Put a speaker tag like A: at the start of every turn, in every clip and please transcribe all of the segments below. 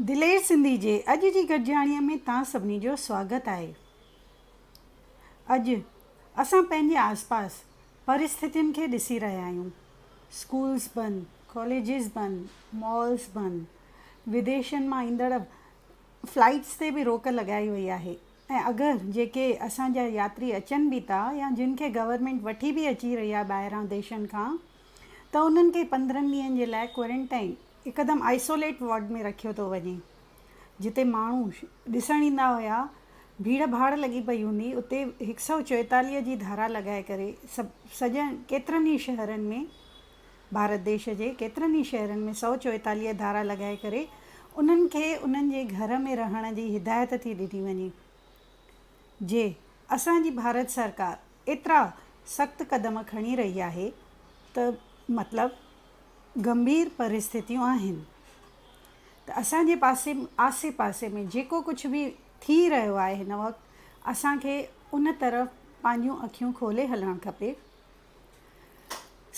A: دلير سنڌي جي اڄ جي گڏجاڻيء ۾ توهان سڀني جو سواگت آهي. اڄ اسان پنهنجي آسپاس پرستتين کي ڏسي رهيا آهيون، اسڪولز بند، ڪاليجز بند، مالز بند، وديشن مان ايندڙ فلائيٽس تي به روڪ لڳائي وئي آهي ۽ اگر جيڪي اسان جا ياتري اچن به ٿا يا جن کي گورنمينٽ وٺي به اچي رهي آهي ٻاهران ديشن کان ته انهن کي پندرهن ڏينهن جي لاء ڪوارنٽائين هڪدم آئسوليٽ وارڊ ۾ رکيو ٿو وڃي. جتي ماڻهو ڏسڻ ايندا هيا ڀيڙ ڀاڙ لڳي پئي هوندي اتي هڪ سئو چوئيتاليهه جي ڌارا لڳائي ڪري سڄن ڪيترن ئي شهرن ۾ ڀارت ديش جي ڪيترن ئي شهرن ۾ سئو چوئيتاليهه ڌارا لڳائي ڪري انهن کي انهن جي گهر ۾ رهڻ جي هدايت ٿي ڏني وڃي جي اسان جي ڀارت سرڪار ايترا سخت قدم کڻي رهي آهي ته مطلب گنڀير پرستتيون آهن ته اسان جي پاسي آسي پاسي ۾ جيڪو ڪجهه به ٿي رهيو آهي هن وقت اسان کي ان طرف پنهنجون اکيون کولي هلڻ کپي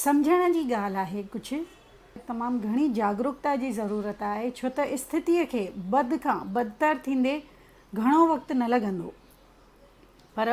A: سمجهڻ جي ڳالهه آهي ڪجهه تمام گهڻي جاگروڪتا جي ضرورت آهي ڇو ته استتي کي بد کان بدتر ٿيندي گهڻو وقت نه لڳندو پر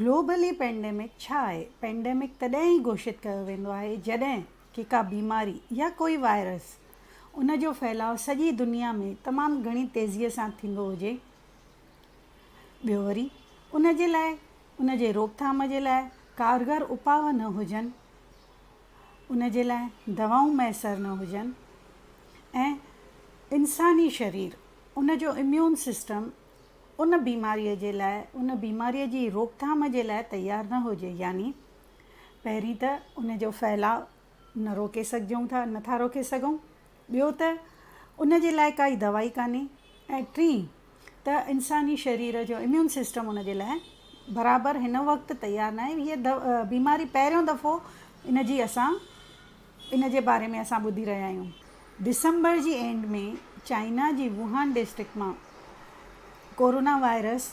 A: گلوبلي پينڊيمڪ ڇا آهي؟ پينڊيمڪ تڏهن ئي گهوشت ڪيو ويندو آهي جڏهن ڪي ڪا بيماري يا ڪوئي وائرس ان جو ڦهلاء سڄي دنيا ۾ تمام گهڻي تيزيء سان ٿيندو هجي. ٻيو وري ان جي لاء ان جي روڪٿام جي لاء ڪارگر اپاء نه هجن، ان جي لاء دوائون ميسر نه هجن ۽ انساني شرير ان جو اميون سسٽم ان بيماريء جي لاء ان بيماريء جي روڪٿام جي لاء تيار نه هجي يعني پهرين ته ان جو ڦهلاء نه روڪي سگهجون ٿا نه ٿا روڪي سگهون ٻيو ته ان جي لاء ڪائي دوائي ڪانهي ۽ ٽين ته انساني شرير جو اميون سسٽم ان جي لاء برابر هن وقت تيار ناهي هيء بيماري پهريون دفعو ان جي اسان ان جي باري ۾ اسان ٻڌي رهيا آهيون. ڊسمبر جي اينڊ ۾ چائنا جي ووهان ڊسٽرڪٽ مان ڪورونا وائرس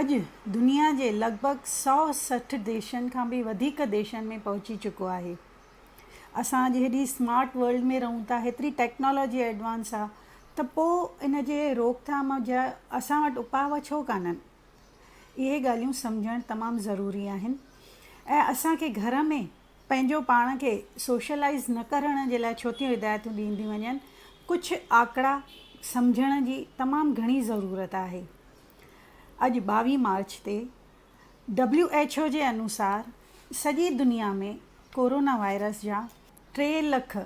A: اڄ دنيا جي لڳ ڀڳ سؤ سٺ ديشن کان به وڌيڪ ديشن ۾ پهچي چڪو آهي. اسان اڄ هيڏي اسمارٽ ورلڊ ۾ رهون ٿا، هيتري ٽيڪنالاجي ايڊوانس آ ته پوء ان جي روڪ ٿام جا اسان وٽ اپاء ڇو ڪانهن؟ اهي ڳالهيون سمجهڻ تمام ضروري آهن ۽ اسان کي گهر ۾. پنهنجو پاڻ کي سوشلائيز نه ڪرڻ جي لاء ڇوٿيون هدايتون ڏينديون وڃن، ڪجهه آڪڙا سمجهڻ جي تمام گهڻي ضرورت آهي. اڄ ٻاوهين مارچ تي ڊبليو ايڇ او جي انوسار سڄي دنيا ۾ ڪورونا وائرس جا ٽي لک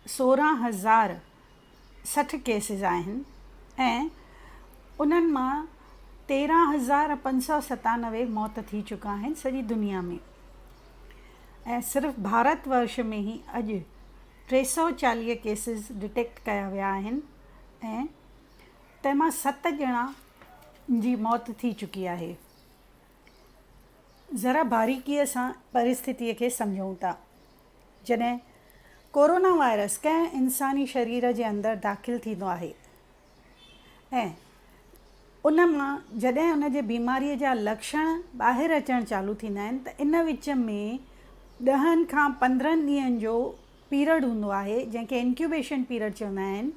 A: سورهن هزار سٺ ڪيسز آهن ۽ انهن مان تيرهن هزار پنج سؤ ستانوي موت ٿي چڪا آهن سڄي دنيا ۾ ۽ صرف ڀارت ورش ۾ هي اڄ ٽي سؤ چاليهه ڪيسز ڊٽيڪٽ ڪيا ويا آهن ۽ تنهن مان ست ڄڻا جي موت ٿي چڪي آهي ذرا باريڪيء سان پريسٿتي کي سمجهون ٿا. جڏهن ڪورونا وائرس ڪنهن انساني شرير جي اندر داخل ٿيندو آهي ۽ ان مان جڏهن ان جي بيماري جا لڪشڻ ٻاهر اچڻ چالو ٿيندا آهن ته ان وچ ۾ ڏهن کان پندرهن ڏينهن جو پيرڊ هوندو آهي جنهن کي انڪيوبيشن پيرڊ چوندا آهن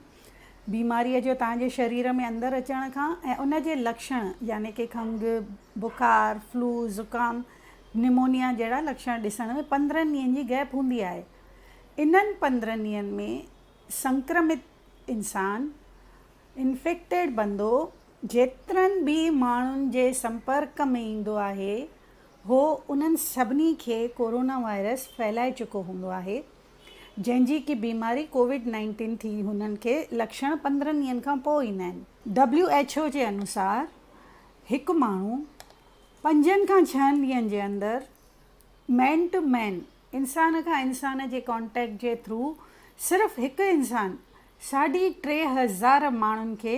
A: بيماريء جو توهان جي شرير ۾ اندر اچڻ کان ۽ ان جي لڪشڻ يعني ڪي کنگهه، بخار، فلو، زڪام، نمونيا جهڙا لڪشڻ ڏسڻ ۾ پندرهن ڏينهن جي گئپ هوندي آهي. انهن پندرهن ڏينهن ۾ سنڪرمت انسان، Infected، بندو جيترن به ماڻهن جي سمپرڪ ۾ ايندو آهي هو انهن سڀني کي ڪورونا وائرس ڦهلائي چڪو هوندو آهي جنهن جي ڪي بيماري ڪووڊ نائنٽين ٿي هنن کي لڪشڻ پندرهن ڏينهن کان پوء ايندا آهن. ڊبليو ايڇ او جي انوسار هڪ ماڻهو پنجن کان ڇهن ڏينهن جي اندر مين ٽو مين انسان کان انسان جي ڪانٽيڪٽ جي ٿرو صرف هڪ انسان ساڍي ٽي هزار ماڻهن کي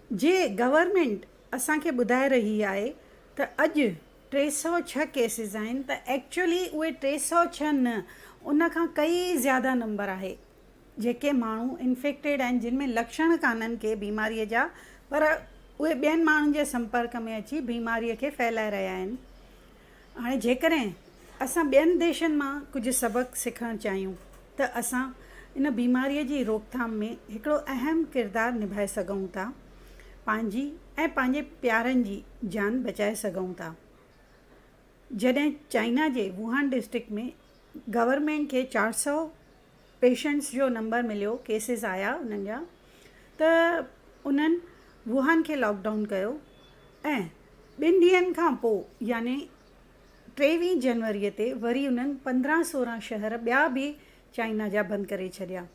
A: جي گورنمينٽ اسان کي ٻڌائي رهي آهي ته اڄ ٽي سؤ ڇهه ڪيسز آهن ته ايڪچوئلي اهي ٽي سؤ ڇهه نه ان کان ڪئي زياده نمبر آهي جيڪي ماڻهو انفيڪٽيڊ آهن جن ۾ لڪشڻ ڪانهن ڪي بيماري جا پر اهي ٻين ماڻهن جي سمپرڪ ۾ اچي بيماري کي ڦهلائي رهيا آهن هاڻي جيڪڏهن اسان ٻين ديشن مان ڪجهه سبق سکڻ چاهيون ته اسان ان بيماريء جي روڪٿام ۾ هڪڙو اهم ڪردار نڀائي سگهون ٿا، پنهنجي ۽ پنهنجي پيارن جي جان بچائي سگهون ٿا. جڏهن چائنا جي ووهان ڊسٽرڪٽ ۾ گورنمينٽ کي چار سؤ پيشنٽس جو نمبر مليو ڪيسز آيا انهن جا ته انهن ووهان کي لاڪ ڊائون ڪيو ۽ ٻن ڏينهن کان پوء يعني ٽيويهه جنوري تي وري انهن پندرهن سورهن شهر ٻيا به چائنا جا بند ڪري ڇڏيا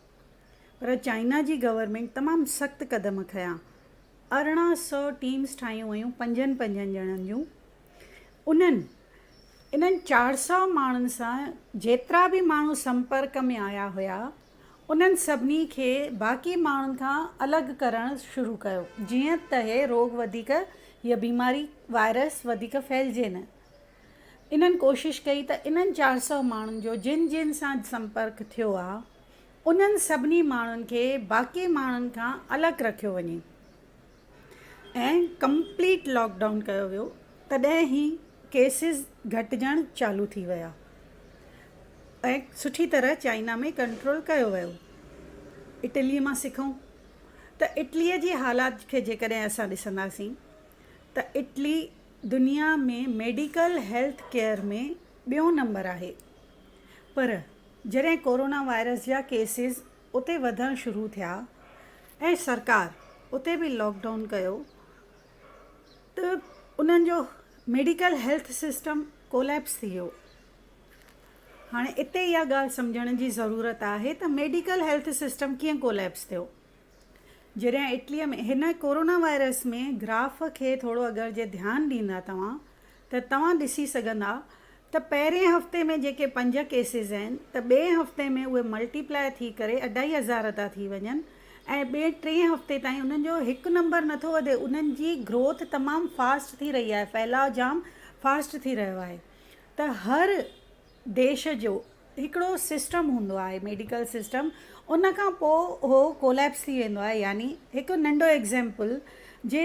A: پر چائنا جي گورنمينٽ تمام سخت قدم کنيا ارڙهن سؤ ٽيمز ٺاهيون ويون پنجن پنجن ڄڻن جون انهن انهن چار سؤ ماڻهن سان جيترا به ماڻهو سمپرڪ ۾ آيا هيا انهن سڀني کي باقي ماڻهن کان الڳ ڪرڻ شروع ڪيو جيئن ته هي روڳ وڌيڪ هيء بيماري وائرس وڌيڪ ڦهلجي نه انهن ڪوشش ڪئي ته انهن چار سؤ ماڻهن جو جن جن سان سمپرڪ ٿيو آهي انهن سڀني ماڻهن کي باقي ماڻهن کان الڳ رکيو وڃي ۽ ڪمپليٽ لاڪ ڊائون ڪيو ويو تڏهن هي ڪيسز گهٽجڻ چالو ٿي ويا ۽ سٺي طرح چائنا ۾ ڪنٽرول ڪيو ويو اٽلي مان سکون ته اٽلي جي حالات کي جيڪڏهن اسان ڏسنداسين ته اٽلي دنيا ۾ ميڊيڪل هيلٿ ڪيئر ۾ ٻيون نمبر آهي پر جڏهن ڪورونا وائرس جا ڪيسز اتي وڌڻ شروع ٿيا ۽ سرڪار اتي به لاڪ ڊائون ڪيو ته انهن جو ميڊيڪل هيلٿ سسٽم ڪوليپس ٿي ويو هاڻي اتي اها ڳالهه سمجهڻ جي ضرورت آهي ته ميڊيڪل هيلٿ سسٽم ڪيئن ڪوليپس ٿيو جڏهن اٽليء ۾ هن ڪورونا وائرس ۾ گراف کي ٿورو اگر جي ڌيان ڏيندا توهان ته توهان ڏسي سگهندا ته پهرين هفتي ۾ جيڪي پنج ڪيسز آهن ته ٻئي هفتي ۾ اهي ملٽي پلاء ٿي ڪري اڍائي هزار ٿا ٿي وڃن ۽ ٻئي ٽئين هفتي تائين انهن جو هڪ نمبر نه ٿو وڌي انهن جي گروٿ تمام فاسٽ ٿي رهي آهي ڦهلاء جام فاسٽ ٿي رهيو آهي ته هر ديش جو هڪڙو سسٽم هوندو آهي ميڊيڪل سسٽم ان کان پوء اهو ڪوليپس ٿي ويندو آهي يعني هڪ ننڍو ايگزيمپل جي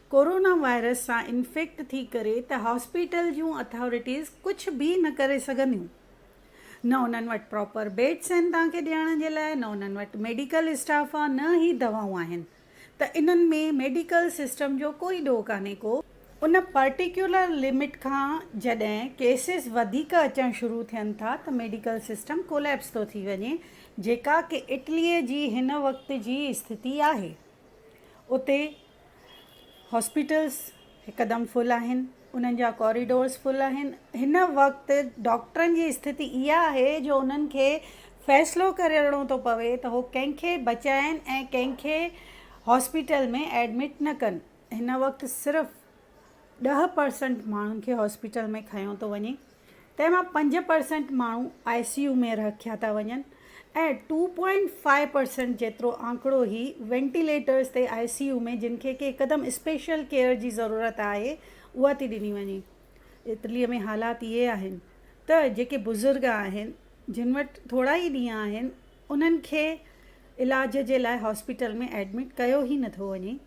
A: ڪورونا وائرس سان انفيڪٽ ٿي ڪري ته هاسپيٽل جون اٿارٽيز ڪجهه به نه ڪري سگهنديون. نه انهن وٽ پراپر بيڊس آهن توهان کي ڏيڻ جي لاء نه انهن وٽ ميڊيڪل اسٽاف آ نه ئي دوائون آهن ته انهن ۾ ميڊيڪل سسٽم جو ڪوئي ڏوهه ڪانهي ڪو. ان پرٽيڪيولر لمٽ کان جڏهن ڪيسز وڌيڪ اچڻ شروع ٿين ٿا ته ميڊيڪل سسٽم ڪوليپس ٿو ٿي وڃي جيڪا ڪي اٽلي جي هن وقت جي استٿتي آهي اتي هاسپيٽلز هڪدم فل آهن، انهن جا ڪوريڊورز فل آهن، هن وقت ڊاڪٽرن جي استٿتي اها آهي جو انهن کي فيصلو ڪرڻو ٿو پوي ته هو ڪنهن کي بچائن ۽ ڪنهن کي هاسپيٽل ۾ ايڊمٽ نه ڪن، هن وقت صرف ڏهه پرسنٽ ماڻهن کي هاسپيٽل ۾ کنيو ٿو وڃي. تنهن مان پنج پرسينٽ ماڻهو آء سي يو ۾ رکيا ٿا وڃن ۽ ٽو پوائنٽ فائيو پرسينٽ جيترو آنڪڙو هي وينٽيليٽرز تي آء سي يو ۾ جن کي ڪي قدم اسپيشل ڪيئر جي ضرورت آهي اها ٿي ڏني وڃي. اٽلي ۾ حالات اهي آهن ته جيڪي بزرگ آهن جن وٽ ٿورا ئي ڏينهن آهن انهن کي علاج جي لاء هاسپيٽل ۾ ايڊمٽ ڪيو ئي نٿو وڃي.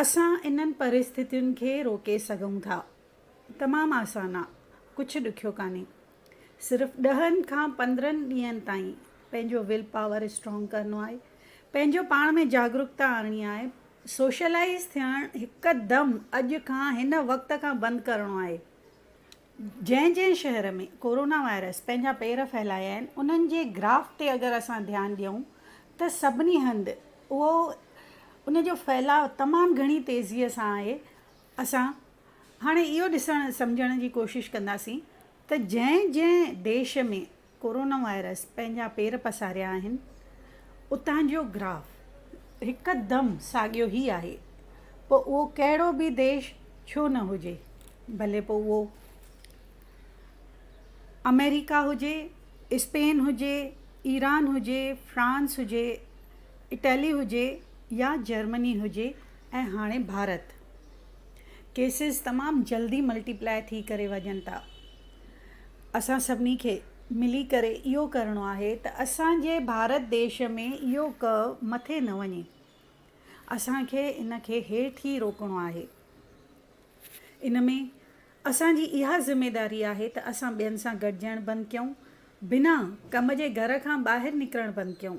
A: اسان انهن پرستتين کي روڪي سگهون ٿا. تمام آسان آ. ڪجهه ڏکيو ڪانهي. صرف ڏهن کان پندرهن ڏينهن تائين پنهنجو ويل پاور اسٽرانگ ڪرڻو آهي. پنهنجو پاڻ ۾ جاڳروڪتا آڻڻي آهي. سوشلائيز ٿيڻ هڪدم اڄ کان هن وقت کان بند ڪرڻو آهي. جنهن جنهن شهر ۾ ڪورونا وائرس پنهنجا پير ڦهلايا آهن انهن جي گراف تي اگر اسان ڌيان ڏيون ته سڀني هنڌ اهو ان جو ڦهلاء تمام گهڻي تيزي سان آهي اسان هاڻي اهو ڏسڻ سمجهڻ جي ڪوشش ڪنداسين ته جنهن جنهن ديش ۾ ڪورونا وائرس پنهنجا پير پساريا آهن، اتان جو گراف هڪدم ساڳيو هي آهي، پوء اهو ڪهڙو به ديش ڇو نه هجي، ڀلي پوء اهو آمريڪا هجي، اسپين هجي، ايران هجي، فرانس هجي، اٽلي هجي يا جرمني هجي ۽ هاڻي ڀارت. ڪيسز تمام جلدي ملٽي پلاء ٿي ڪري وڃن ٿا. اسان سڀني کي ملي ڪري اهو ڪرڻو آهي ته اسان جي ڀارت ديش ۾ اهو ڪهه مٿي نه وڃي اسان کي ان کي هيٺ ئي روڪڻو آهي ان ۾ اسان جي اها ذميداري آهي ته اسان ٻين سان گڏجڻ بند ڪيون بنا ڪم جي گهر کان ٻاهر نڪرڻ بند ڪيون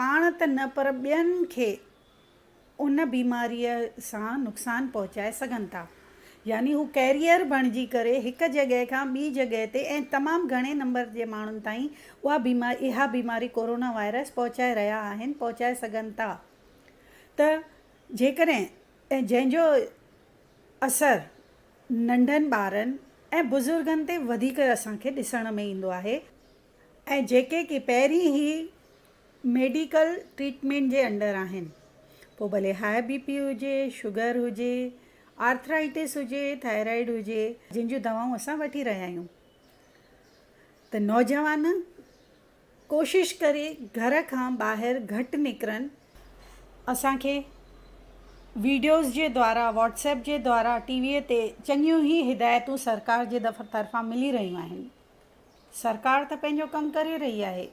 A: پاڻ ته نه پر ٻين کي ان بيماريء سان نقصان پهچائي سگهن ٿا. يعني هو ڪيريئر بڻجي ڪري هڪ جڳهه کان ٻي جڳهه تي ۽ تمام گهڻي نمبر جي ماڻهن تائين اها بيماري ڪورونا وائرس پهچائي رهيا آهن پهچائي سگهن ٿا ته جيڪڏهن ۽ جنهن جو اثر ننڍن ٻارن ۽ بزرگن تي وڌيڪ اسان کي ڏسڻ ۾ ايندو آهي. ۽ جيڪي ڪي پهرين ئي ميڊيڪل ٽريٽمينٽ جي انڊر آهن پوء ڀلي هاء بي پي هجي شگر هجي آرٿرائيٽس هجي ٿائرائيڊ هجي جن جون دوائون اسان وٺي رهيا آهيون ته نوجوان ڪوشش ڪري گهر کان ٻاهر گهٽ نڪرن اسانکي ويڊيوز جي دوارا واٽسپ جي دوارا ٽي ويء تي چڱيون هي هدايتون سرڪار جي طرفان ملي رهيون آهن سرڪار ته پنهنجو ڪم ڪري رهي آهي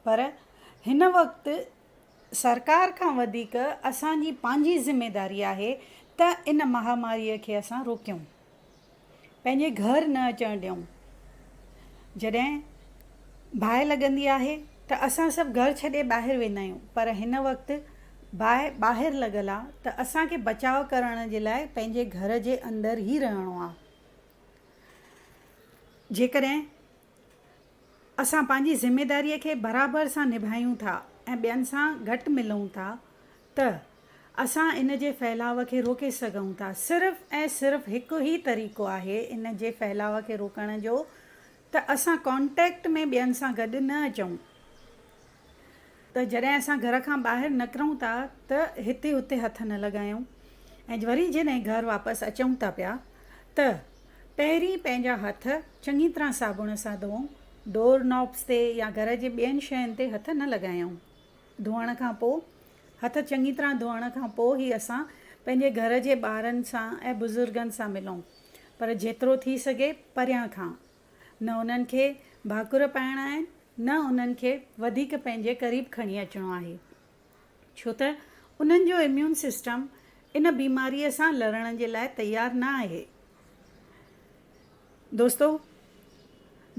A: پر هن وقت سرڪار کان وڌيڪ اسانجي پنهنجي ذميداري آهي ته ان مهاماري کي اسان روڪيون پنهنجي گهر نه اچڻ ڏيون جڏهن باهه لڳندي آهي ته اسان سڀ گهر ڇڏي ٻاهر ويندا آهيون پر هن وقت باهه ٻاهر لڳل آهي ته اسانکي بچاء ڪرڻ جي لاء پنهنجي گهر جي اندر ئي رهڻو آهي جيڪڏهن اسان پنهنجي ذميداريء کي برابر سان نڀايون ٿا ۽ ٻين سان گهٽ ملون ٿا ته اسان ان جي ڦهلاء کي روڪي سگهون ٿا. صرف ۽ صرف هڪ ئي طريقو آهي ان جي ڦهلاء کي روڪڻ جو ته اسان ڪانٽيڪٽ ۾ ٻين سان گڏ نه اچون ته جڏهن اسان گهر کان ٻاهر نڪرون ٿا ته هتي هتي هٿ نه لڳايون ۽ وري جڏهن گهر واپس اچون ٿا پيا ته پهرين پنهنجا هٿ چڱي طرح صابڻ سان ڌوئون ڊور نوبس تي يا گهر جي ٻين شين تي هٿ نه لڳايون ڌوئڻ کان پوء هٿ چڱي طرح ڌوئڻ کان پوء ئي اسان پنهنجي گهر جي ٻارن سان ۽ بزرگن سان ملون. پر جيترو ٿي سگهي پريان کان. نه انهن کي ڀاڪر پائڻا آهن، نه انهن کي وڌيڪ پنهنجي قريب کڻي اچڻو آهي. ڇو ته انهن جو اميون سسٽم ان بيماريء سان لڙڻ جي لاء تيار نه آهي. دوستو!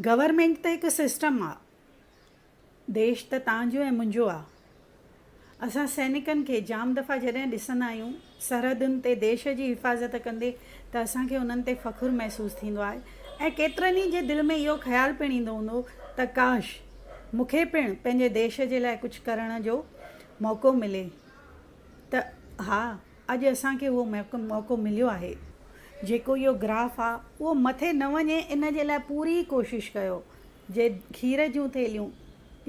A: گورنمينٽ ته هڪ سسٽم آ. ديش ته تان جو ۽ منهنجو آ. اسان سينڪن کي جام دفعا جڏهن ڏسندا آهيون سرحدن تي ديش جي حفاظت ڪندي ته اسان کي انهن تي فخر محسوس ٿيندو آهي ۽ ڪيترن ئي جي دل ۾ اهو خيال پڻ ايندو هوندو ته ڪاش مون کي پڻ پنهنجي ديش جي لاء ڪجهه ڪرڻ جو موقعو ملي ته ها اڄ اسان کي اهو موقعو مليو آهي. جيڪو اهو گراف آ اهو مٿي نه وڃي ان جي لاء پوري ڪوشش ڪيو جي کير جون ٿيلهيون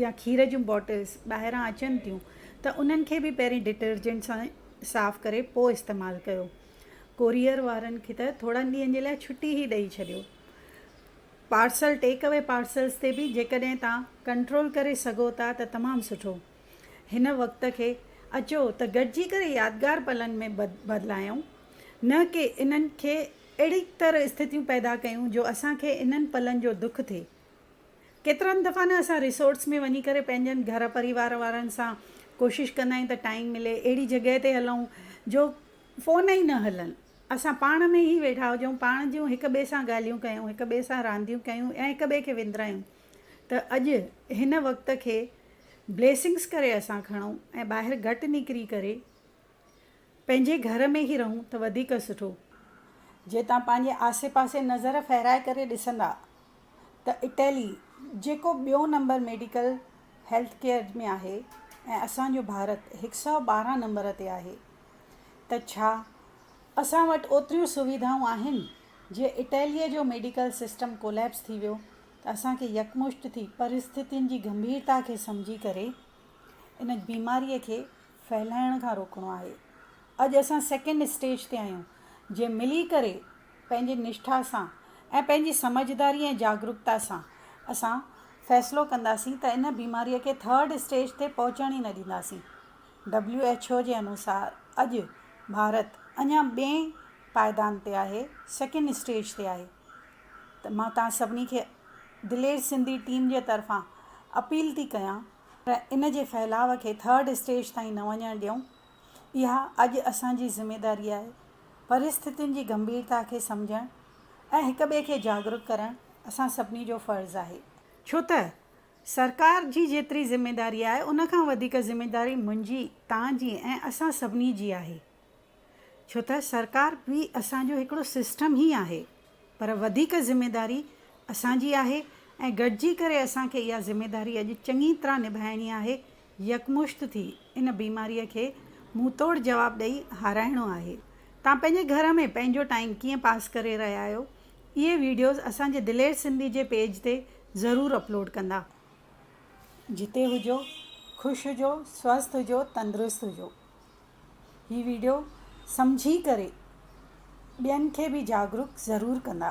A: يا کير جون بوٽلز ٻاهران اچن ٿيون ته انهن کي به پهرين ڊٽرجنٽ سان صاف ڪري پوء استعمال ڪيو. ڪوريئر وارن کي ته ٿورن ڏينهن جي لاء ڇٽي ئي ڏئي ڇڏيو. پارسل ٽيڪ اوي پارسلز تي به جيڪڏهن توهان ڪنٽرول ڪري سگهو ٿا ته تمام سٺو. هن وقت کي اچو ته گڏجي ڪري يادگار پلن ۾ بدلايون نه ڪي انهن کي اهڙي تر استٿيون پيدا ڪيون جو اسان کي انهن پلن جو دک ٿئي. ڪيترن دفعا نه اسان ريسورٽس ۾ وڃي ڪري پنهنجن گهر پريوار وارن سان ڪوشش ڪندا آهيون ته ٽائيم ملي اهڙي جڳهه تي هلئون جو فون ئي نه هلن اسان پاڻ ۾ ئي ويٺا هجئون پاڻ جون هڪ ٻئي سان ڳالهيون ڪيون هڪ ٻئي سان رانديون ڪيون ۽ هڪ ٻئي کي وندرايون ته اڄ هن وقت کي بليسنگس ڪري اسان کڻئون ۽ ٻاهر گهٽ نڪري ڪري پنهنجي گهر ۾ ئي رهون ته وڌيڪ سٺو. جي توهان پنهنجي آسي پاسي نظر ڦيرائي ڪري ڏسندا ته اٽلي جيڪو ٻيو نمبر ميڊيڪل هيلٿ ڪيئر ۾ آهي ۽ اسان جو ڀارت هڪ سؤ ٻارهن نمبر تي آهي ته ڇا اسان وٽ اوتريون سويڌائون آهن؟ جي اٽلي جو ميڊيڪل سسٽم ڪوليپس ٿي ويو ته اسان کي يڪمشت ٿي پرستتين جي گنڀيرتا کي سمجهي ڪري ان بيماري کي ڦهلائڻ کان روڪڻو آهي. اڄ اسان سيڪنڊ اسٽيج تي آهيون، جي ملي ڪري پنهنجي نشٺا سان ۽ پنهنجي سمجهداري ۽ جاگروڪتا سان اسان فيصلو ڪنداسين ته ان بيماري کي ٿرڊ اسٽيج تي پهچڻ ئي نه ڏينداسين. ڊبليو ايڇ او جي انوسار اڄ ڀارت اڃا ٻئين پائدان تي آهي، سيڪنڊ اسٽيج تي آهي ته مان توهان سڀني کي دلير سنڌي ٽيم جي طرفان اپيل ٿي ڪيان، پر ان جي ڦهلاء کي ٿرڊ اسٽيج تائين نه وڃڻ ڏيون، اها اڄ اسان جي ذميواري آهي. پريستتين جي گنڀيرتا کي سمجهڻ ۽ هڪ ٻئي کي جاڳرڪ ڪرڻ اسان سڀني جو فرض آهي. ڇو ته سرڪار جي جيتري ذميواري آهي، ان کان وڌيڪ ذميواري منهنجي، توهان جي ۽ اسان سڀني جي آهي. ڇو ته سرڪار به اسان جو هڪڙو سسٽم ئي آهي پر وڌيڪ ذميداري اسان جي آهي ۽ گڏجي ڪري اسان کي اها ذميداري اڄ چڱي طرح نڀائڻي آهي يڪمشت ٿي ان بيماري کي منهن توڙ جواب ڏئي هارائڻو آهي توهان پنهنجي گهر ۾ پنهنجو ٽائيم ڪيئن پاس ڪري رهيا آهيو اهي ويڊيوز اسان جي دلير سنڌي جي پيج تي ضرور اپلوڊ ڪندا. جتي هجو خوش هجو سوسٿ هجو تندرست هجو. هي ويڊيو سمجهي ڪري ٻين کي به جاڳروڪ ضرور ڪندا.